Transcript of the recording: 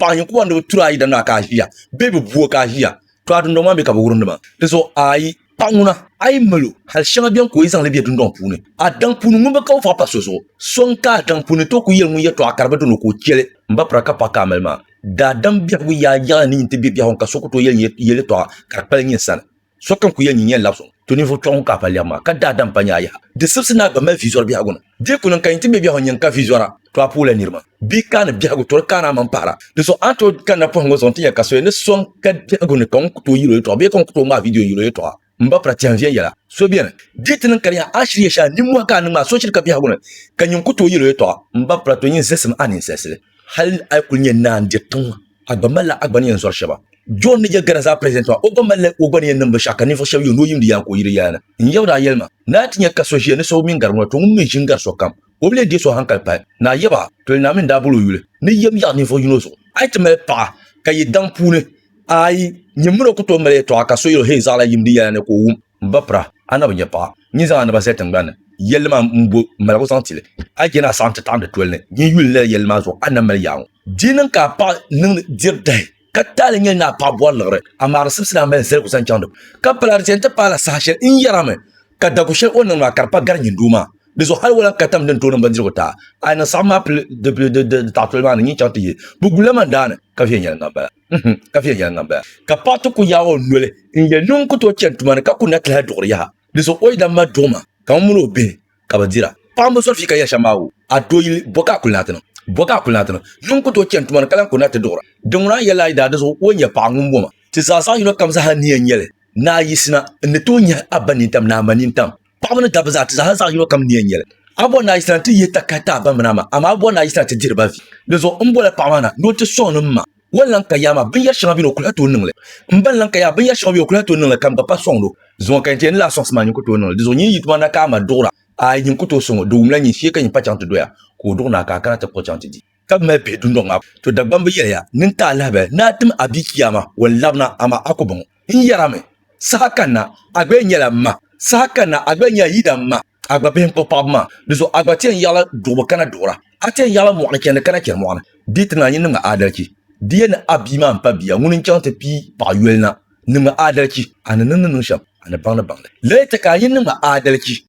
paɣa ninkura ni bi turi ayi dini maa ka a ʒiya bee bi bu o ka a ʒiya to a dundoŋ maa mii ka bi wurim dima di zuɣu ayi paɣa ŋuna a yi mali o hali shɛŋa biɛni ka o yi zaŋli bɛ dundoŋ puuni a daŋ puuni ŋun bi ka o faɣa pa so zuɣu so n ka a daŋ puuni to ku yɛli ŋun yɛtɔɣa ka di bi dini ka o chɛli n ba pira ka paɣa ka a mali maa daadam biɛhigu yaai yaɣali ni yin ti bɛ biɛhigu ka so ku to yɛli yɛlitɔɣa ka di kpali nyin sani Sokam ku yɛli nyin yɛn labisɔŋ to ninvuɣ kpɛɣu ŋun ka a pa lɛbu maa, ka daa dam pa nyaa yaha. Di sibisi ni a gba mali viizɔri biɛhigu na. Di ku niŋ ka yin ti mɛ biɛhigu n-nyin ka viizɔra, to a puhila niriba. Bɛ kaani biɛhigu tɔri kaani a maŋ pahira. Dinso a ni tooi kanna pɔhimbu zuɣu nti nya ka soya ni so n-ka biɛhigu ni ka ŋun ku tooi yil o yɛltɔɣa bee ka ŋun ku tooi ŋmaai viidiyo n-yil o yɛltɔɣa m-ba pira tɛhi n-viɛn yɛla. So beni, di ti niŋ ka di yaha a shiri ya shɛli nimmɔhi ka a niŋ maa, so shiri ka biɛhigu ni ka nyin ku tooi yil o yɛltɔɣa m-ba pira to nyin zahisi mi a ninsalisili. hali a yi kuli nyɛ naa n-diri tiŋ ŋɔ, a gba malila a gba ni yɛn zɔri shɛba. John ni yɛli Ghana zaa President maa, o gba malila o gba ni yɛn niŋ binshɛɣu ka ninvuɣ shɛba yuuni o yiŋdi yaa ka o yiri yaa na. N yaba daa yɛli ma, Naa ti nya ka so ʒiya ni so bi mi n-gari ŋuna, to ŋun mi ʒi n-gari sokam, o bi lee deei so hankali pahi. Naa yaba, Toli Naawuni n-daa boli o yuli ni yɛm yaɣi ninvuɣ yino zuɣu. A yi ti mali paɣa ka yi daŋ puuni ayi, nyin min o ku tooi mali yɛtɔɣa ka so yɛl o, Hei zaɣila yimdi yaa na ni ka o wum. M ba pira, a na bi nya paɣa. Nyin zaŋ a naba zali tiŋgbani ni. Yɛlli maa m-bo maligu zaŋ ti li. A je ni a saɣim ti taɣim di toli ni. Nyin yuli lala yɛlli maa zuɣu, a nam mali yaaŋɔ. Di niŋ ka a paɣa niŋdi diri dahi, ka taali nyɛli ni a paɣa bɔri liɣiri. A maari simsi ni a mali zaligu zaŋ chaŋ di puuni. Ka pala di zani ti paai la saha shɛli n ni yɛra mi ka dagu shɛli o ni niŋdi maa ka di pa gari nyin doo maa. Di zuɣu hali o lan ka tam di ni tooi niŋ bindirigu ti a. A ni saɣim maa pili di taɣitoli maa ni nyin chaŋ ti yi. Bi guli la man daani, ka viɛnyɛliŋga m-bala. mhm, ka viɛnyɛliŋga m-bala. Ka paɣ ti ku yaag o noli n-yɛli ni o ni ku tooi chani tuma ni ka ku na ti lahi duɣiri yaha. Di zuɣu o yidana maa duɣima ka ŋun mini o bihi ka bɛ dira. Paɣ m-bi zɔri fii ka yɛli shɛm maa, O, a dooyili, bɔ ka a kuli na ti niŋ? Bɔ ka a kuli na ti niŋ? Ni n ku tooi chani tuma ni ka lan ku na ti duɣira? Dinŋuna a yɛlila a yidaa, di zuɣu o nya paɣ ŋun bɔ ma. Ti zaa zaɣ yino kam zaa ni yɛn nya li, ni a yiɣisina, n ni tooi nyahi a ba nintam ni a ma nintam. Paɣaba ni dabba zaa ti zaa zaɣ yino kam ni yɛn nyɛli a bɔ naa yisira ti yɛ takari ti a ba mini a ma amaa a bɔ naa yisira ti diri ba vi di zuɣu n bɔla paɣaba na ni o ti sɔŋ ni m ma wan lan ka yaa maa binyɛri shɛŋa bɛ ni o kuli ha tooi niŋli m ban lan ka yaa binyɛri shɛŋa bɛ o kuli ha tooi niŋli kam gba pa sɔŋdi o zuŋɔ ka yɛn ti yɛn ni lahi sɔŋsi maa nyin ku tooi niŋli di zuɣu nyin yi tuma na ka a ma duɣira aai nyin ku tooi sɔŋ o di wumla nyin shee ka nyin pa chaŋ ti doya ka o duɣi naa ka a kana ti kpuɣi chaŋ ti di ka bi mali bihi dundɔŋ maa puuni. To Dagbamb yɛli ya, ni n ti a lahabali ni a tim a bia Chiyaama, o ni labina, amaa a ku baŋ o. N yɛrami, Saha kanna, a gba yɛn nyɛla m ma, saha kanna, a gba yɛn nyɛla yidana m ma, a gba bihi n kpuɣi paɣibu maa, di zuɣu a gba ti yɛn yiɣila duɣibu kana duɣira, a ti yɛn yiɣila mɔɣini chɛndi kana chɛri mɔɣini. Di ti naanyi niŋmi aadalichi. Di ya ni a bia maa m-pa bia ŋun n-chaŋ ti pii paɣ yoli na. Niŋmi aadalichi, a ni niŋdi niŋ shɛm, a ni baŋdi baŋdi. Lahi chɛ ka a nyin niŋmi aadalichi.